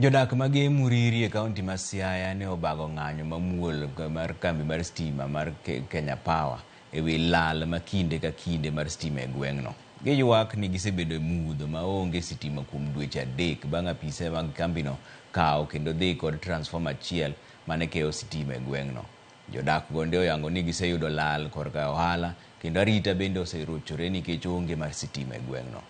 Jodak ma geye Muriri e kaunti ma Siaya ne obago ng'anyo mamuol mar kambi mar stima mar Kenya Power e wi lal ma kinde ka kinde mar stima e gweng'no. Giywak ni gisebedo e mudho ma onge sitima kuom dweche adek bang' apise mag kambino kawo kendo dhi kod transformer achiel mane keyo sitima e gweng'no. Jodak gonde oyango ni giseyudo lal korka ohala kendo arita bende oserochore nikech onge mar sitima e gweng'no.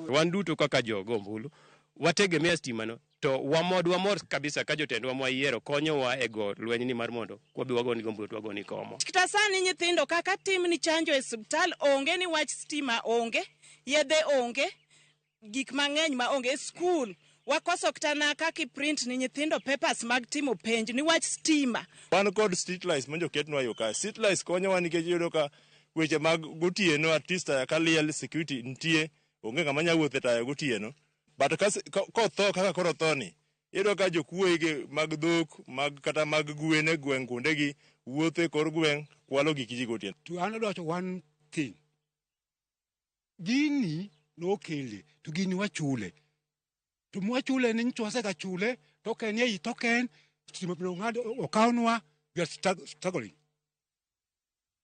Wan duto kaka jogo ombulu wategemea stimano. To wamod wamor kabisa ka jotendwa mwayiero konyowa e go lweny ni mar mondo kwabi wagoni gombuyo to wagoni komo. Kta sani nyithindo kaka tim ni chanjo e subtal onge ni wach stima onge, yedhe onge, gik mang'eny ma onge. Skul wakoso kta na kaka i print ni nyithindo papers mag timo penj ni wach stima. Wan kod street lights mondo oketnwa yo ka. Street lights konyowa nikech iyudo ka weche mag gotieno at least taya ka liel security nitie. Onge ng'ama nya wuotho e taya gotieno. But kotho kaka koro otho ni, iyudo ka jokuoye gi mag dhok mag kata mag gwen e gweng' kuondegi wuotho e kor gweng' kwalo gik ji gotieno. To an adwa wacho one thing. Gini nokele to gini wachule. To mwachule ni nyicho wasega chule token ei token stima pino ng'ado okawnwa we are struggling.